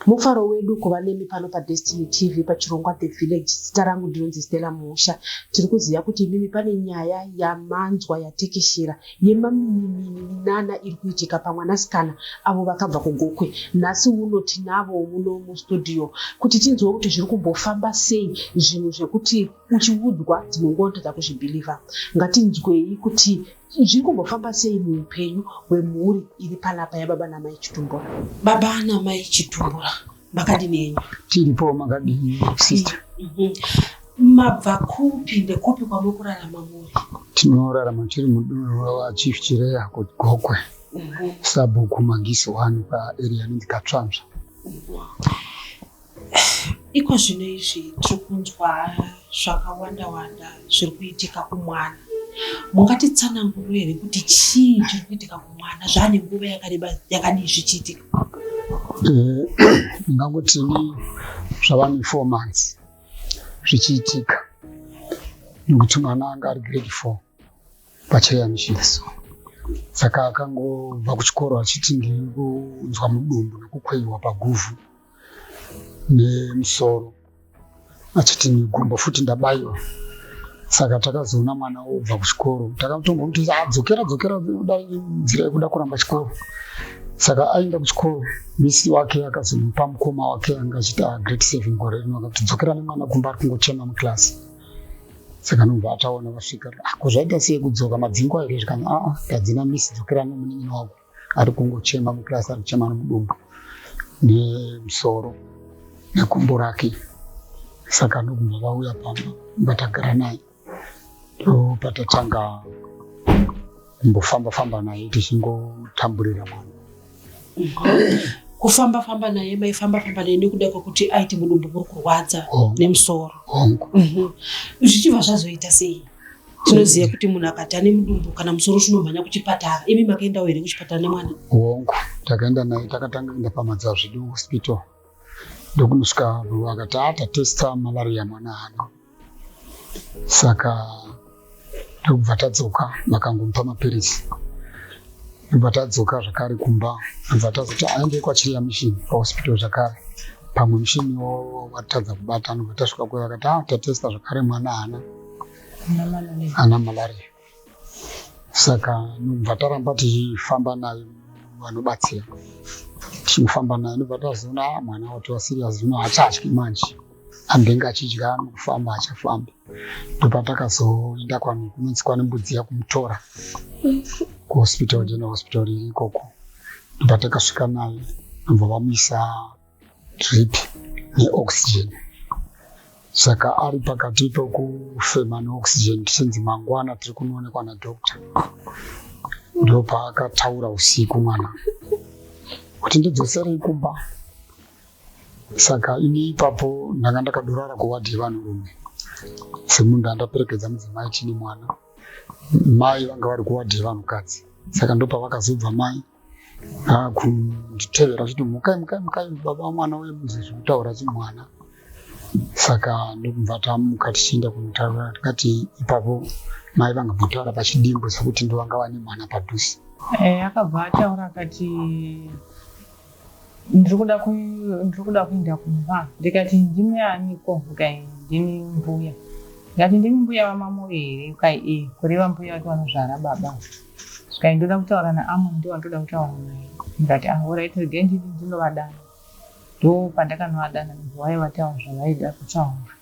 Mufaro wedu kuva nemi pano paDestiny TV pachirongwa The Village. Zita rangu ndinonzi Stella Musha. Tiri kuziva kuti imimi pane nyaya yamanzwa yatekeshera yemamininana iri kuitika pamwanasikana avo vakabva kuGokwe. Nhasi uno tinavo muno mustudio kuti tinzwe kuti zviri kumbofamba sei zvinhu zvekuti uchiudzwa dzimwe nguva unotadza kuzvibhilivha. Ngatinzwei kuti zviri kumbofamba sei muupenyu hwemhuri iri panapa yababa namai chitumbura baba namai chitumbura makadini enyu tiripo makadini sister mhm. mabva kupi ndekupi kwamuri kurarama muri tinorarama tiri mudunhu rachief chireya kuti gokwe mhm. sabhuku magisi wani paarea inonzi katsvamzva mhm. Iko zvino izvi tiri kunzwa zvakawanda wanda zviri kuitika kumwana. Mungatitsananguriro here kuti chii chiri kuitika kumwana zvaane nguva yakareba yakadii zvichiitika? Eh, ndingangoti ni zvava nefour months zvichiitika nekuti mwana anga ari grade four pachayamishiso saka akangobva kuchikoro achiti ndiri kunzwa mudumbu nekukweiwa paguvhu nemusoro achiti migumbo futi ndabaiwa saka takazoona mwana obva kuchikoro takatonga kuti adzokera dzokera nzira yekuda kuramba chikoro saka aenda kuchikoro misi wake akazomupa mukoma wake anga achiti agreat ah, seven gore rino akati dzokera nemwana kumba ari kungochema muclasi saka nobva ataona vasvika ako ah, zvaita sei kudzoka madzingo aire zvikanzi aa ah, tadzina misi dzokera nemunin'ina wako ari kungochema muclass ari kuchema nomudumbu nemusoro nekumbo rake saka ndokubva vauya pamba ndatagara naye ndopatatanga kumbofamba famba naye tichingotamburira mwana kufamba famba naye maifamba famba naye nekuda kwekuti aiti mudumbu muri kurwadza oh. nemusoro oh. mhm. zvichibva zvazoita sei tinoziva kuti munhu akadhana mudumbu kana musoro tinomhanya kuchipatara imi makaendawo here kuchipatara nemwana hongu takaenda naye takatanga kuenda pamadzazvidu hospital ndokunosvika vakati atatesta ah, malaria mwana ano saka ndokubva tadzoka vakangomupa mapiritsi ndobva tadzoka zvakare kumba ndobva tazoti aende kwachiriya mishini pahospital zvakare pamwe mishini watadza kubata ndobva tasvika kuyo vakati ah, tatesta zvakare mwana haana ana malaria saka nobva taramba tichifamba naye vanobatsira tichifamba naye nobva tazoona ah, mwana watova serious zvino hachatyi manje ambenge achidya nokufamba achafamba ndopatakazoenda kwano kunonzi kwane mbudzi yakumutora kuhospital general hospital iri ikoko ndopatakasvika naye nobva vamuisa drip neoxygen saka ari pakati pekufema neoxygen tichinzi mangwana tiri kunoonekwa nadoctor ndopaakataura usiku mwana kuti ndidzoserei kumba saka ini ipapo ndanga ndakadorara kuwadhi yevanhurume semunhu andaperekedza mudzimai chine mwana mai vanga vari kuwadhi yevanhukadzi saka ndopavakazobva mai akunditevera achiti mukai mukai mukai baba mwana uye munzi zviri kutaura chimwana saka ndokubva tamuka tichienda kunotaura tikati ipapo mai vanga votaura pachidimbo sekuti ndovanga vane mwana padhuze eh, akabva ataura akati ndiri kuda kuenda kumba ndikati ndimi aniko ukai ndimi mbuya ndikati ndimi mbuya vamamoyo here ukai e eh, kureva mbuya vati vanozvara baba Sky ndoda kutaura naAmon ndiwo andoda kutaura naye ndikati ah alright regai ndini ndinovadana ndo pandakanovadana why vataura zvavaida kutaura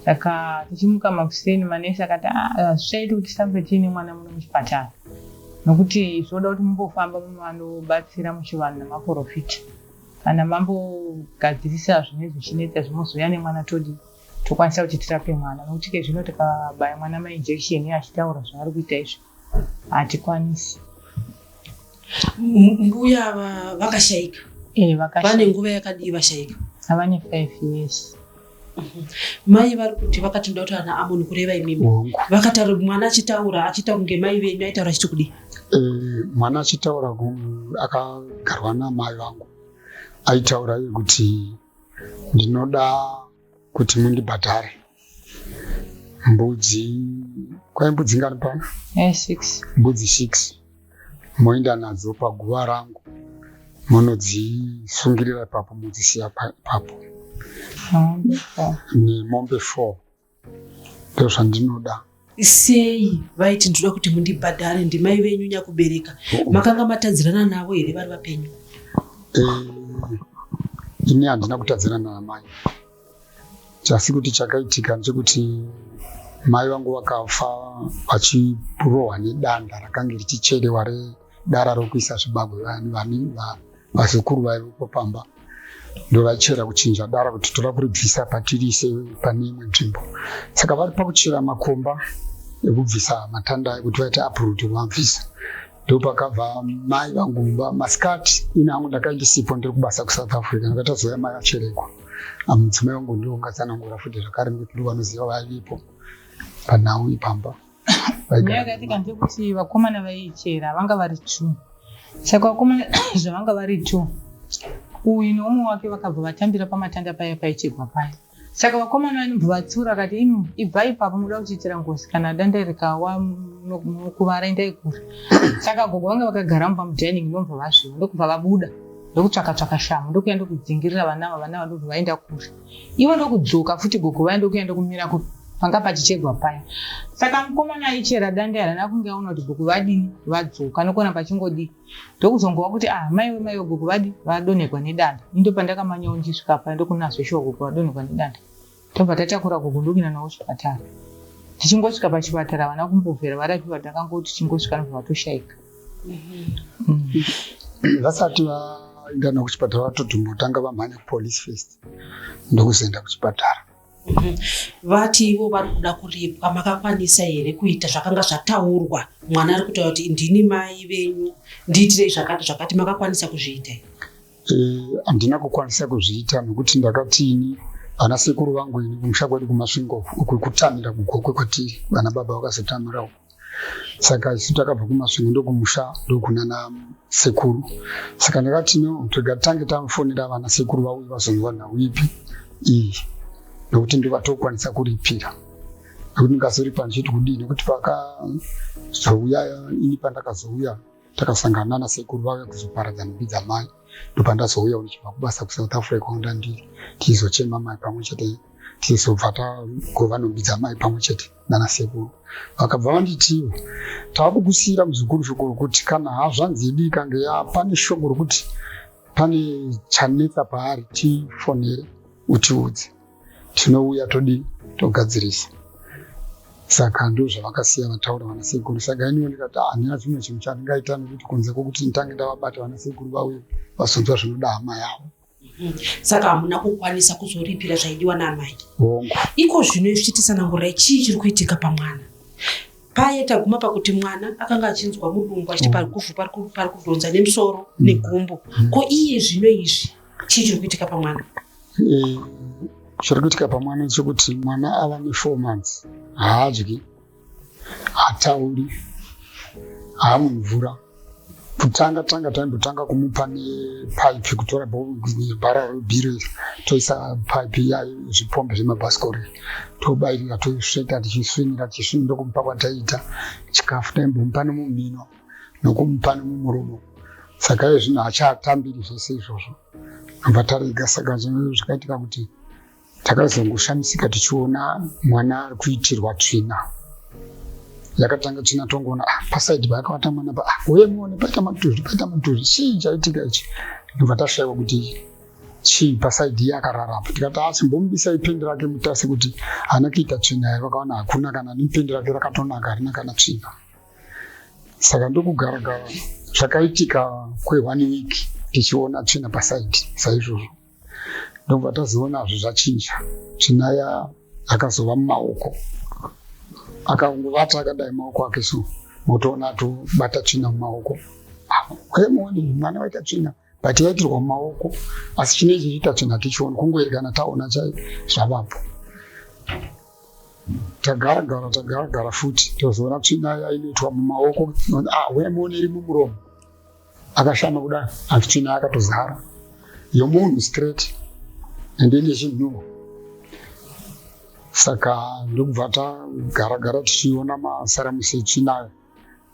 saka tichimuka makuseni manesi akati ah, hazvichaiti kuti titambe tiine mwana muno muchipatara nokuti zvoda kuti mumbofamba munovanobatsira muchivanhu namaporofita kana mambogadzirisa zvinenge zvichinetsa zvimozouya nemwana todii tokwanisa kuti tirape mwana nokuti ke zvino tikabaya mwana mainjection iye achitaura zvaari kuita izvo hatikwanisi mbuya vakashaika vane nguva yakadii vashaika avane five years mhm. mai vari kuti vakati ndoda kuti ana amoni kureva imimi vakataura mwana achitaura achitaura kunge mai venyu aitaura achiti kudii eh, mwana achitaura akagarwa namai vangu aitaura kuti ndinoda kuti mundibhadhare mbudzi kwai mbudzi ngani pano eh, mbudzi six moenda nadzo paguva rangu monodzisungirira ipapo modzisiya ipapo nemombe four ndozvandinoda sei vaiti ndinoda kuti mundibhadhare ndimai venyu nyakubereka oh. makanga matadzirana navo here vari vapenyu eh, ini handina kutadzirana namai chasi kuti chakaitika ndechekuti mai vangu vakafa vachirohwa nedanda rakange richicherewa dara rokuisa zvibagwe vani vani vazukuru vaivepo pamba ndovachera kuchinja dara kuti toda kuribvisa patirise pane imwe nzvimbo saka vari pakuchera makomba ekubvisa matanda ayo kuti vaite apruti kuvabvisa ndopakabva mai vangu mumba masikati ini hangu ndakaindisipo ndiri kubasa kusouth africa ndakatazouya mai vacherekwa amudzimai wangu ndiongatsanangura futi zvakare nekuti ndovanoziva vaivepo panhau ipamba nyaya yakaitika ndeyekuti vakomana vaichera vanga vari two saka vakomana zvavanga vari two uyu neumwe wake vakabva vatambira pamatanda paya paichegwa paya saka vakomana vanobva vatsiura akati imi ibvai ipapo muda kutiitira ngozi kana danda rikawa mukuvara endai kure saka gogo vange vakagara mumba mudining ndobva vazviva ndokubva vabuda ndokutsvaka tsvaka shamhu ndokuya ndokudzingirira vana ava vana ava ndobva vaenda kure ivo ndokudzoka futi gogo vaye ndokuenda kumira ku panga pachichegwa paya saka mukomana aichera dande harana kunge aona kuti gogo vadii vadzoka nokona pachingodii ndokuzongova kuti ah maiwe maiwe gogo vadii vadonhegwa nedanda indo pandakamanyawo ndisvika paya ndokunazveshuwa gogo vadonhegwa nedanda tobva tatakura gogo ndokuenda nawo chipatara tichingosvika pachipatara vana kumbovhera varapiwa takangoti tichingosvika nobva vatoshaika vasati vaenda na kuchipatara vatotombotanga vamhanya kupolice first ndokuzoenda kuchipatara vati ivo vari kuda kuripwa makakwanisa here kuita zvakanga zvataurwa mwana ari kutaura kuti ndini mai venyu ndiitirei zvakati zvakati makakwanisa kuzviita here Eh, handina kukwanisa kuzviita nokuti ndakatini vana sekuru vangu ini kumusha kwedu kumasvingo uku kutamira kugokwe kwatiri vana baba vakazotamirawo saka isu takabva kumasvingo ndokumusha ndokunana sekuru saka ndakati no toga tange tamufonera vana sekuru vauyi vazonzwa nhau ipi iyi nokuti ndovatokwanisa kuripira nokuti ndikazoripa ndichiti kudii nokuti pakazouya ini pandakazouya takasangana nasekuru vave kuzoparadza nhumbi dzamai ndopandazouya ndichibva kubasa kusouth africa kwanda ndiri tichizochema mai pamwe chete tichizobva tagova nhumbi dzamai pamwe chete nanasekuru vakabva vanditiwo tava kukusiyira muzukuru shoko rokuti kana hazvanzi yedu ikange yapane shoko rokuti pane chanetsa paari tifonere utiudze tinouya todii togadzirisa saka ndo zvavakasiya vataura vana sekuru saka iniwo ndikati ah, handina chimwe chinhu chandingaita nekuti kunze kwokuti nditange ndavabata vana sekuru vauye vazonzwa zvinoda hama yavo mm-hmm. saka hamuna kukwanisa kuzoripira zvaidiwa naamai hongu iko zvino izvichitisanangurai chii chiri kuitika pamwana paye taguma pakuti mwana akanga achinzwa mudumbu achiti mm. parikufu pari kudhonza nemusoro mm. negumbo mm. ko iye zvino izvi chii chiri kuitika pamwana eh, chiri kuitika pamwana chekuti mwana ava nefour months haadyi hatauri haamwe mvura kutanga tanga taindotanga kumupa nepaipi kutora bara rebhiro toisa paipi yayo zvipombe zvemabhasikori tobairira tosveta tichisvinira tichisvinira kumupa kwataiita chikafu taimbomupa nemumhino nokumupa nomumuromo saka iye zvino hachaatambiri zvese izvozvo nobva tarega saka zvinhu zvakaitika kuti takazongoshamisika tichiona mwana ari kuitirwa tsvina yakatanga tsvina tongoona ah, pasaidi paakavata mwana pa ah, uye muone paita matuzvi paita matuzvi chii chaitika ichi nobva tashaiwa kuti chii pasaidi iye akararapa tikati asi ah, mbomubisa ipendi rake mutase kuti haana kuita tsvina here vakaona hakuna kana nependi rake rakatonaka harina kana tsvina saka ndokugara gara zvakaitika kwe one week tichiona tsvina pasaidi saizvozvo ndobva tazionazve zvachinja tsvina ya akazova mumaoko akaungovata akadai maoko ake so motoona atobata tsvina mumaoko wemuoni ah, mwana waita tsvina but yaitirwa mumaoko asi chine chichiita tsvina tichiona kungoerekana taona chai zvavapo tagara gara tagara gara futi tozoona tsvina yainoitwa mumaoko ah, wemuone iri mumuromo akashama kudai asi tsvina yakatozara yomunhu straight and ine chinhuwo saka ndokubva tagara gara tichiona masaramusi etsvinayo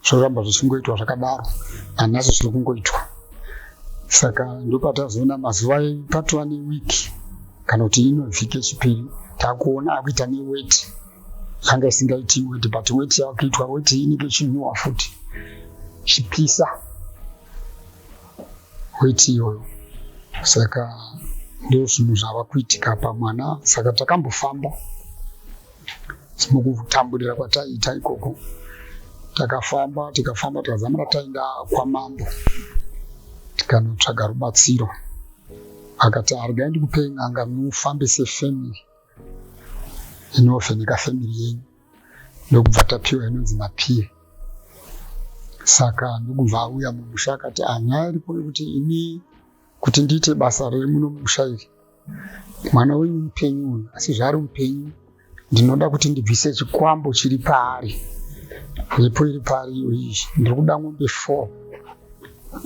zvoramba zvichingoitwa zvakadaro hanasi zviri kungoitwa saka ndopatazoona mazuva patova neweek kana kuti ino vhiki yechipiri takuona akuita neweti yanga isingaiti weti but weti yakuitwa weti inenge ichinyuwa futi chipisa weti iyoyo saka ndozvinhu zvava kuitika pamwana saka takambofamba mukutamburira kwataiita ikoko takafamba tikafamba tikazamura taenda kwamambo tikanotsvaga rubatsiro akati arigai ndikupei n'anga mufambe sefamily inovheneka family yenyu ndokubva tapiwa inonzi mapie saka ndokubva auya mumusha akati anyaya ah, iripo yekuti ini kuti ndiite basa riri muno mumusha iri mwana wenyu mupenyu uyu asi zvaari mupenyu ndinoda kuti ndibvise chikwambo chiri paari ripo iri paari iyo iyi ndiri kuda ngombe four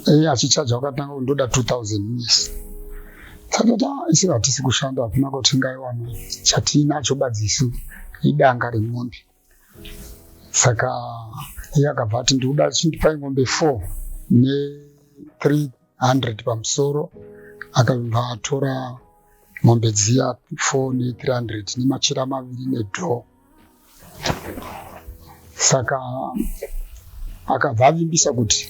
eye achichaja wakatanga kundoda two thousand yes satata isi hatisi kushanda hakuna kuti ngaiwana chatiinacho badzisu idanga remombe saka iye akabva ati ndikuda chindipai ngombe four ne three 100 pamusoro akabva atora mombe dziya 4 ne 300 nemachira maviri nedho saka akabva avimbisa kuti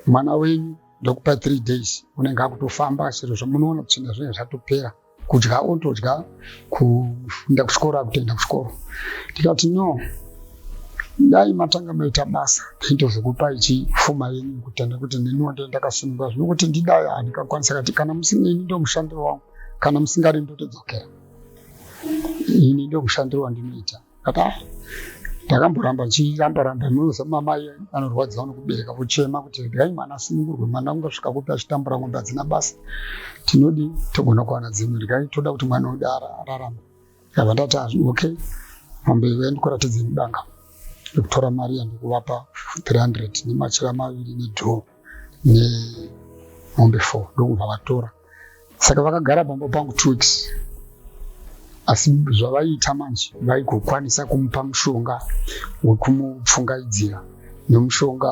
mwana wenyu ndokupa 3 days unenge akutofamba sezvo munoona kuti zvinhu zvinenge zvatopera kudya otodya kufunda kuchikoro akutoenda kuchikoro ndikati no dai matanga maita basa ndaitozokupai chifuma yenyu kutenda kuti neniwo ndee ndakasununga zvino kuti ndidai handikakwanisa kati kana musineni ndo mushandiro wangu kana musingari ndotodzokera ini ndo mushandiro wandinoita Kata ndakamboramba ndichiramba ramba munoza mama anorwadziwa nekubereka vochema kuti regai mwana asunungurwe mwana ungasvika kupi achitambura ng'ombe hadzina basa tinodi togona kuwana dzimwe regai toda kuti mwana wedu ararame ndabva ndati okay mombe iwe ndikuratidze mudanga ndikutora mari yandikuvapa 300 nemachira maviri nedhoo nemombe four ndokubva vatora saka vakagara pamba pangu two weeks asi zvavaiita manje vaigokwanisa kumupa mushonga wekumupfungaidzira nemushonga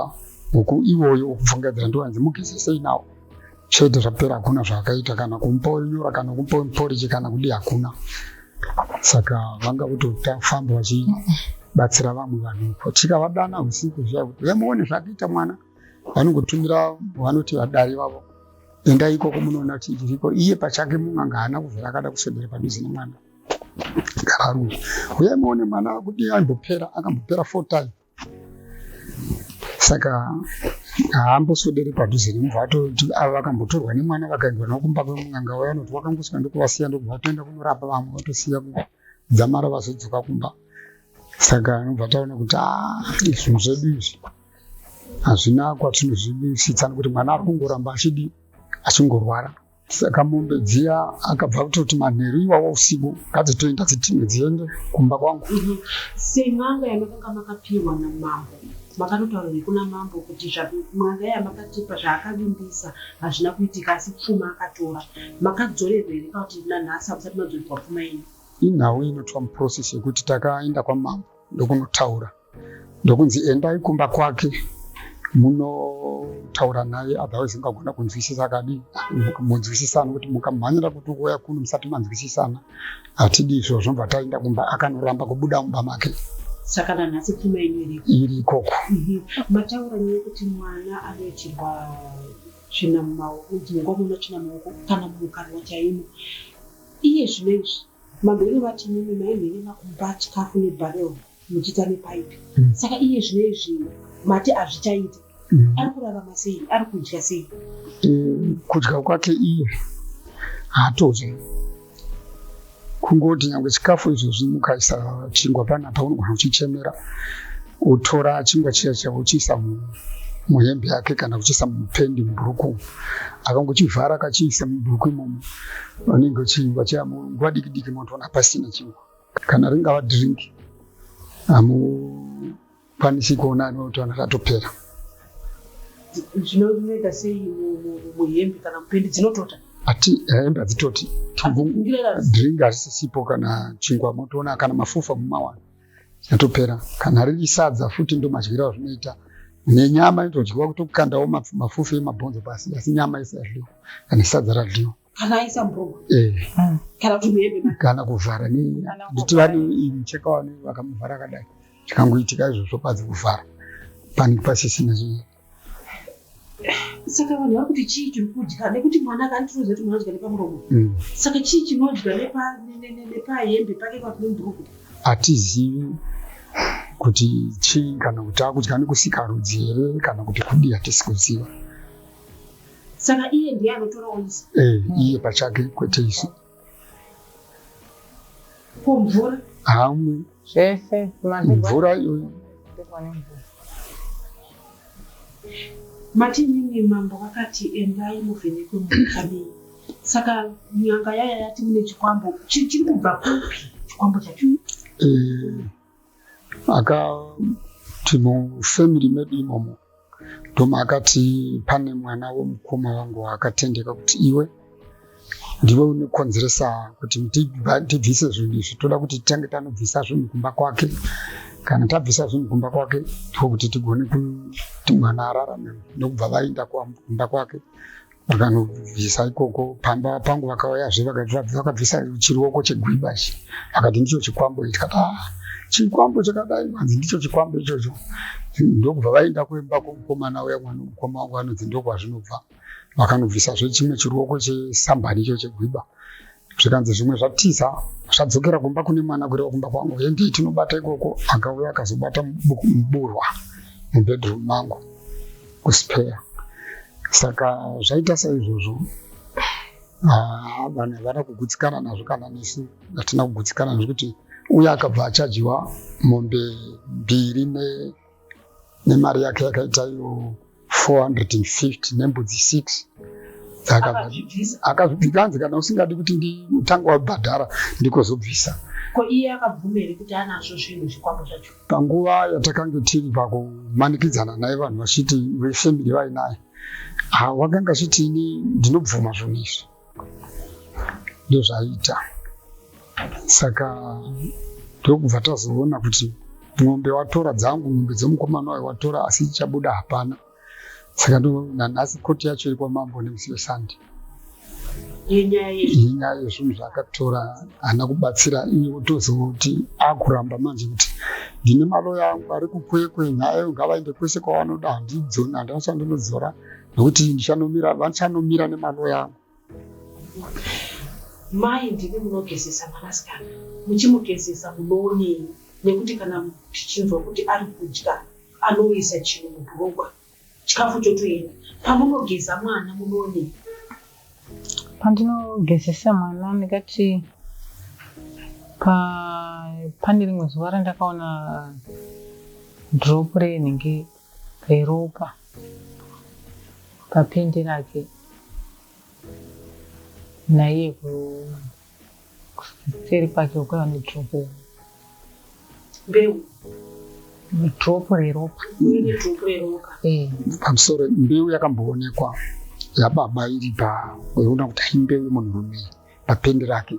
uku iwoyo ukupfungadzira ndiwanzi mugezesei nawo chete zvapera hakuna zvaakaita kana kumupa nyora kana kumupa muporiji kana kudi hakuna saka vanga kutofamba vachibatsira vamwe vanhu uko tikavadana usiku zviya kuti vemuone zvakaita mwana vanongotumira vanoti vadari vavo endai ikoko munoona kuti zviriko iye pachake mun'anga haana kuzvira akada kuswedera padhuze nemwana gararume uyai muone mwana kuti aimbopera akambopera four time saka haamboswedere padhuze nemva atoti ava vakambotorwa nemwana vakaendwa navo kumba kwemun'anga uya anoti wakangosvika ndokuvasiya ndokubva vatoenda kunorapa vamwe vatosiya kudzamara vazodzoka kumba saka anobva taona kuti a ah, zvinhu zvedu izvi hazvina kwatinozvivisitsa nekuti mwana ari kungoramba achidi achingorwara saka mombe dziya akabva kutoti manheru iwawa usiku ngadzitoenda dzitime dziende kumba kwangu mhm. sen'anga yamakanga makapiwa namambo makatotaura nekuna mambo kuti mwana yamakatipa zvaakavimbisa hazvina kuitika asi pfuma akatora makadzorerwa here ka kuti nanhasi hakusati madzorerwa pfuma ino inhau inoitwa muprocess yekuti takaenda kwamambo ndokunotaura ndokunzi endai kumba kwake munotaura naye otherwise mukagona kunzwisisa kadi munzwisisana kuti mukamhanyira kuti ukuuya kuno musati manzwisisana hatidi izvo zvinobva taenda kumba akanoramba kubuda mumba make saka nanhasi pfuma ino iriko iri ikoko mhm. mataura nyaya yekuti mwana anoitirwa tsvina mumaoko dzimwe nguva muno tsvina mumaoko kana mumukarwa chaimo iye zvino izvi mabhero vati mimi maimhene makumba chikafu nebhareo muchiita nepaipi mm. saka iye zvine izvi mati hazvichaita mm. ari kurarama sei ari kudya sei mm, kudya kwake iye haatodya kungoti nyangwe chikafu izvozvi mukaisa chingwa panapa unogona uchichemera utora chingwa chiya chavo uchiisa muhembe yake kana kuchiisa mupendi mubhuruku akangochivhara akachiisa mubhuruku imomo vanenge vachingwa chaya nguva diki diki motoona pasina chingwa kana ringava drink hamukwanisi kuona anotoona ratopera zvinoita sei muhembe kana mupendi dzinotota ati eh, hembe hadzitoti drink hazisisipo kana chingwa motoona kana mafufa mumawana yatopera kana riri sadza futi ndomadyira zvinoita nenyama inotodyiwa kutokukandawo mafufu emabhonzo pasi asi nyama isayadliwa kana sadza radliwa kana aisa mbroma eh. hmm. kana kuti muhembe kana kuvhara ne nditi vari mucheka wani vakamuvhara akadai chikangoitika izvozvo padzi kuvhara panenge pasisina chii saka vanhu vari kuti chii chiri kudya nekuti mwana akanditiroza kuti mwana adya nepamuromo hmm. saka chii chinodya nepahembe pake pakumbruku hatizivi kuti chii kana kuti akudya nekusika rudzi here kana kuti kudii hatisi kuziva saka iye ndiye anotorawo isu eh, iye pachake kwete isu ko mvura hamwe zvese mvura iyoyo mati nini mambo vakati endai muvhenekwe mukamii saka nyanga yaya yati mune chikwambo chiri kubva kupi chikwambo chacho eh, akati mufamily medu imomo ndoma akati pane mwana wemukoma wangu waakatendeka kuti iwe ndiwe unokonzeresa kuti tibvise zvinhu izvi toda kuti titange tanobvisa zvinhu kumba kwake kana tabvisa zvinhu kumba kwake tiko kuti tigone kuti mwana ararame nekubva vaenda kumba kwake vakanobvisa ikoko pamba pangu vakauyazve vakabvisa chiruoko chegwiba chi vakati ndicho chikwambo tikati ah, chikwambo chakadai vanzi ndicho chikwambo ichocho ndokubva vaenda kuimba kwomukomana uya mwana mukoma wangu anonzi ndokwazvinobva vakanobvisazve chimwe chiruoko chesambani icho chegwiba zvikanzi zvimwe zvatiza zvadzokera kumba kune mwana kureva kumba kwangu endei tinobata ikoko akauya akazobata muburwa mubedroom mangu kuspare saka zvaita saizvozvo ah, vanhu havana kugutsikana nazvo kana nesu hatina kugutsikana nezvekuti uye akabva achajiwa mombe mbiri ne nemari yake yakaita iyo 450 nembudzi 6 akazvikanzi kana usingadi kuti nditanga wabhadhara ndikozobvisa panguva yatakange tiri pakumanikidzana naye vanhu vachiti vefamily vainaye wakanga achiti ini ndinobvuma zvinhu izvi ndozvaita saka ndokubva tazoona kuti mombe watora dzangu mombe dzemukomana wayo watora asi ichabuda hapana saka nanhasi koti yacho iri kwamambo nemusi wesande yenyaya yezvinhu zvaakatora haana kubatsira iye otozoti akuramba manje kuti ndine maloya angu ari kukwekwe nyaya yo ngavaende kwese kwavanoda handidzona handina chandinodzora nokuti ndichanomira vandichanomira nemaloya angu mai ndimi munogezesa mwanasikana muchimugezesa munoonei nekuti kana tichinzwa kuti ari kudya anoisa chinhu mubhurugwa chikafu chotoenda pamunogeza mwana munoonei pandinogezesa mwana ndikati pa pane rimwe zuva randakaona drop reinenge reropa papendi rake naiye kuseri kwake ukava nedropo mbeu dropo reropa eh. pamusoro mbeu yakamboonekwa yababa iri paona kuti haimbeu yemunhurume papendi rake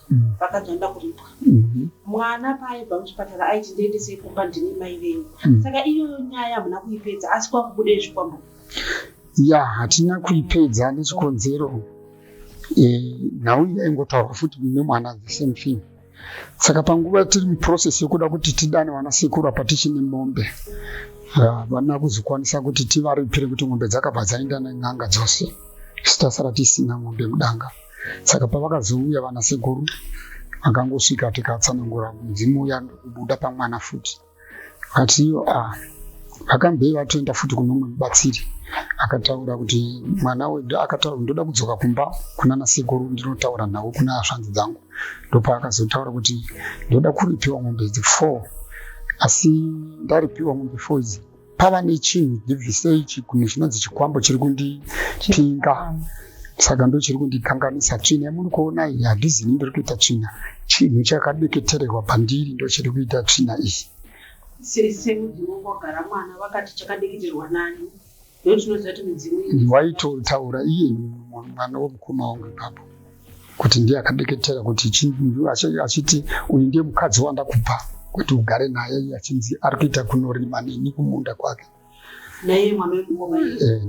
mm. vakati vanoda kuripwa mm-hmm. mwana paaibva muchipatara aiti ndiendesei kumba ndine mai venyu mm. saka iyoyo nyaya hamuna kuipedza asi kwakubuda izvi kwambo ya hatina kuipedza nechikonzero eh, nhau iya ingotaurwa futi nemwana the same thing saka panguva tiri muprocess yekuda kuti tidane vana sekuru apa tichine mombe havana kuzokwanisa kuti tivaripire kuti mombe dzakabva dzaenda nen'anga dzose sitasara tisina mombe mudanga saka pavakazouya vana sekuru akangosvika tikatsanangura mudzimu uya ndokubuda pamwana futi vakati iyo ah, vakambei vatoenda futi kune umwe mubatsiri akataura kuti mwana wedu akataura ndoda kudzoka kumba kuna nasekuru ndinotaura nhau kuna hasvanzi dzangu ndopaakazotaura kuti ndoda kuripiwa mombe idzi four asi ndaripiwa mombe four idzi pava nechinhu ndibvisei chigunhu chinonzi chikwambo chiri kundipinga saka ndo chiri kundikanganisa tsvina yamuri kuona iyi handizini ndiri kuita tsvina chinhu chakabeketererwa pandiri ndo chiri kuita tsvina iyi waitotaura iye mwana wemukoma wangu ipapo kuti ndiye akadeketera kuti achiti uyu ndiye mukadzi wandakupa kuti ugare naye achinzi ari kuita kunorima neni kumunda kwake naiye mwana wekungoma eh,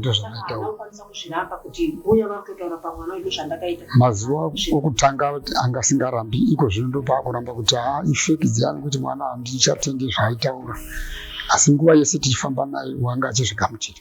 mazuva okutanga anga singarambi iko zvino ndopaakuramba kuti haa ah, ifeki dziyani kuti mwana handichatenge zvaaitaura asi nguva yese tichifamba naye wanga achizvigamuchira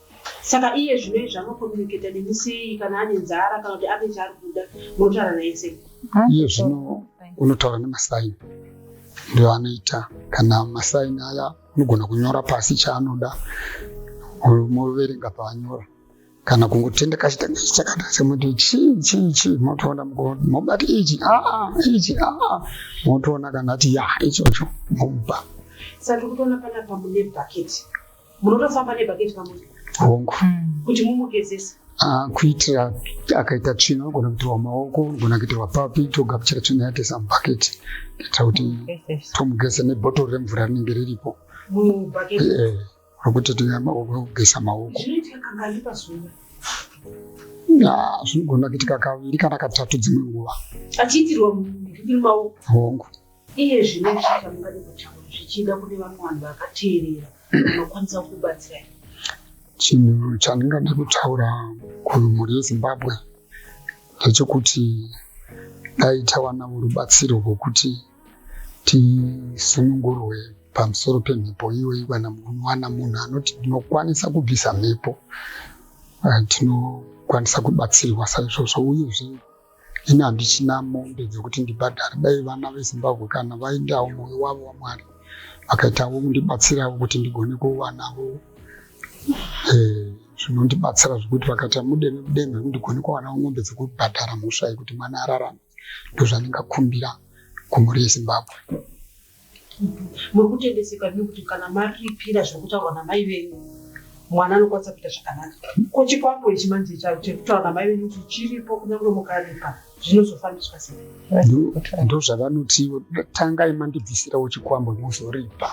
Saka iye zvino izvi anocommunicata nemi sei kana ane nzara kana kuti ane chaari kuda munotaura naye sei? Iye zvino unotaura nemasaini ndiyo anoita kana masaini aya unogona kunyora pasi chaanoda moverenga paanyora kana kungotenda kachitanga ichi chakata semoti chii chii chii motoona mobati ichi aa ichi aa motoona kana ati ya ichocho momupa saka tiri kutoona panapa mune bhaketi munotofamba nebhaketi pamwe hongu mm. kuti mumugezese ah, kuitira akaita tsvina unogona kuitirwa maoko unogona kuitirwa papi togapuchira tsvina yake samubhaketi kuitira kuti tomugeza nebhotoro remvura rinenge riripo eh, rokuti togeza maoko ah, zvinogona kuitika kaviri kana katatu dzimwe nguva achiitirwa hongu Iye zvino muchatambuka nepachavo zvichida kune vamwe vanhu vakateerera vanokwanisa kukubatsirai. Chinhu chandingada kutaura kumhuri yeZimbabwe ndechekuti dai tawanawo rubatsiro rwokuti tisunungurwe pamusoro pemhepo iyoyi kana munowana munhu anoti ndinokwanisa kubvisa mhepo eh, tinokwanisa kubatsirwa saizvozvo uyezve ini handichina mombe dzekuti ndibhadhare dai vana vezimbabwe kana vaendawo moyo wavo wamwari vakaitawo kundibatsirawo kuti ndigone kuvanavo eh, zvinondibatsira zvekuti vakaita mudeme mudeme kundigone kuwanawo mombe dzekubhadhara mhosva yekuti mwana ararame ndozvandingakumbira kumhuri yezimbabwe Muri kutendeseka henyu kuti kana maripira zviri kutaurwa namai venyu mwana anokwanisa kuita zvakanaka. Ko chikwambo ichi manje charo chiri kutaura namai venyu kuti chiripo kunyange mukaripa zvinozofambiswa sei? Ndo- ndozvavanoti ivo tangai mandibvisirawo chikwambo mozoripa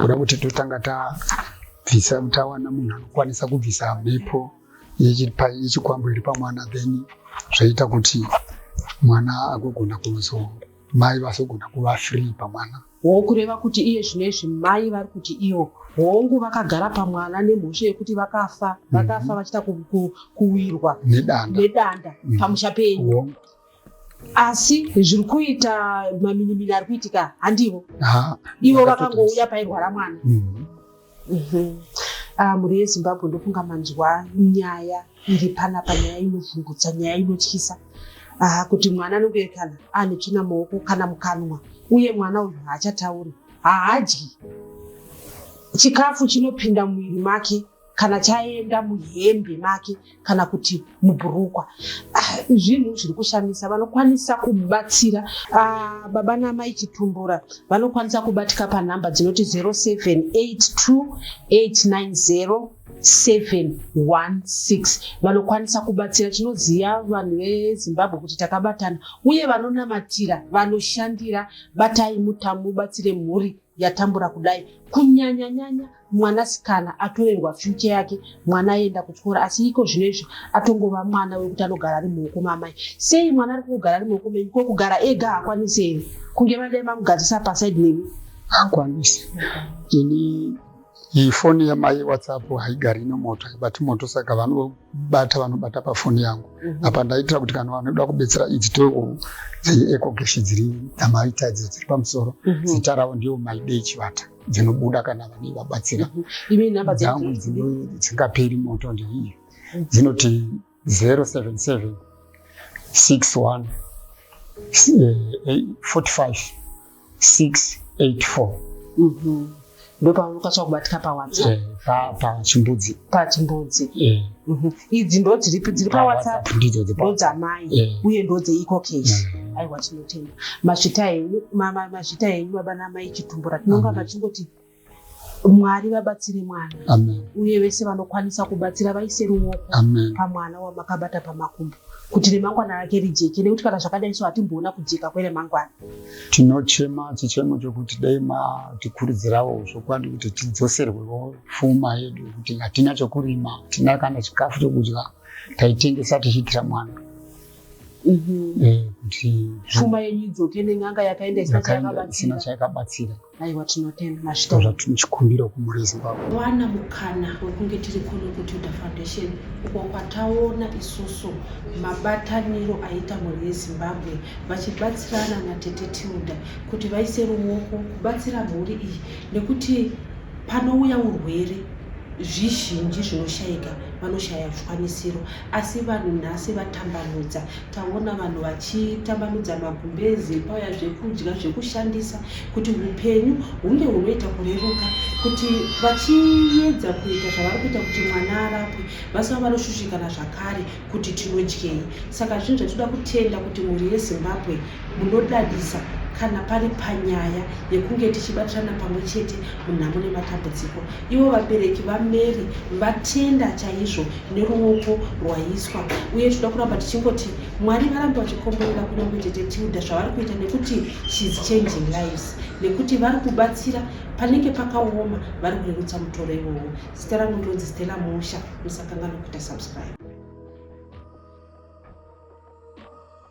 kuda kuti totanga tabvisa tawana munhu anokwanisa kubvisa mhepo yechi- pa- yechikwambo iri pamwana then zvoita kuti mwana agogona kuzo- mai vasogona kuva free pamwana hoo kureva kuti iye zvino izvi mai vari kuti iyo hongu vakagara pamwana nemhosva yekuti vakafa mhm. vakafa mm -hmm. vachita kuwirwa nedanda, nedanda. Mm -hmm. pamusha penyu asi zviri kuita maminimini ari kuitika handivo ivo vakangouya pairwara mwana mm -hmm. Mhm. Ah, mhuri yezimbabwe ndofunga manzwa nyaya iri panapa nyaya inovhungutsa nyaya inotyisa Ah, kuti mwana anoberekana ane tsvina maoko kana mukanwa uye mwana uyu haachatauri haadyi chikafu chinopinda mumwiri make kana chaenda muhembe make kana kuti mubhurukwa ah, zvinhu zviri kushamisa vanokwanisa kubatsira ah, baba namai chitumbura vanokwanisa kubatika panhamba dzinoti 0782890716 vanokwanisa kubatsira tinoziva vanhu vezimbabwe kuti takabatana uye vanonamatira vanoshandira batai mutamu ubatsire mhuri yatambura kudai kunyanya nyanya mwanasikana atorerwa future yake mwana aenda kuchikora asi iko zvino izvi atongova mwana wekuti anogara ari muoko mamai sei mwana ari kugara ari muoko menyu ko kugara ega hakwanise here kunge vadai mamugadzisa pasaid nemi hakwanise ini Iyi foni yamai whatsapp haigari ino moto haibati moto saka vanobata vanobata pafoni yangu mhm. apa ndaitira kuti kana vanoda kubetsera idzi towo dzeecogeshi dziri dzamaita idzo dziri pamusoro mhm. zita ravo ndiyo maidei chivata dzinobuda kana vanei vabatsira mhm. dzangu dzingaperi moto ndeiyi dzinoti 077 61 45 684 ndopaunokatsva kubatika pawhatsapp eh, pachimbudzi pachimbudzi eh. mhm. idzi ndo dziripi dziri pawhatsapp ndodzamai eh. uye ndo dzeiko case mm. aiwa tinotenda mazvita enyu mazvita enyu baba namai chitumbura tinonga mm. machingoti Mwari vabatsire mwana Amen. uye vese vanokwanisa kubatsira vaise ruoko Amen. pamwana wamakabata pamakumbo kuti remangwana rake rijeke nekuti kana zvakadai so hatimboona kujeka kweremangwana Tinochema chichemo chokuti dai matikurudzirawo zvokwadi kuti tidzoserwewo pfuma yedu kuti hatina chokurima, hatina kana chikafu chokudya, taitengesa tichiitira mwana Eh, kuti pfuma yenyu idzoke nen'anga yakaenda isina yakaenda isina chayakabatsira chayakabatsira. aiwa tinotenda mashito zvatinochikumbira kumhuri yezimbabwe wana mukana wekunge tiri kunokutuda foundation uko kwataona isusu mabataniro aita mhuri yezimbabwe vachibatsirana natete tilda kuti vaise ruoko kubatsira mhuri iyi nekuti panouya urwere zvizhinji zvinoshayika vanoshaya zvikwanisiro asi vanhu nhasi vatambanudza taona vanhu vachitambanudza magumbezi pauya zvekudya zvekushandisa kuti upenyu hunge hunoita kureruka kuti vachiedza kuita zvavari kuita kuti mwana arapwe vasava vanoshushikana zvakare kuti tinodyei saka zvinhu zvatinoda kutenda kuti mhuri yezimbabwe munodadisa kana pari panyaya yekunge tichibatirana pamwe chete munhamo nematambudziko ivo vabereki vamary vatenda chaizvo neruoko rwaiswa uye tinoda kuramba tichingoti mwari varambe vachikomborera kunyange tete tilda zvavari kuita nekuti shes changing lives nekuti vari kubatsira panenge pakaoma vari kurerutsa mutoro iwowo zita rangu ndonzi stela musha musakangana kuita subscribe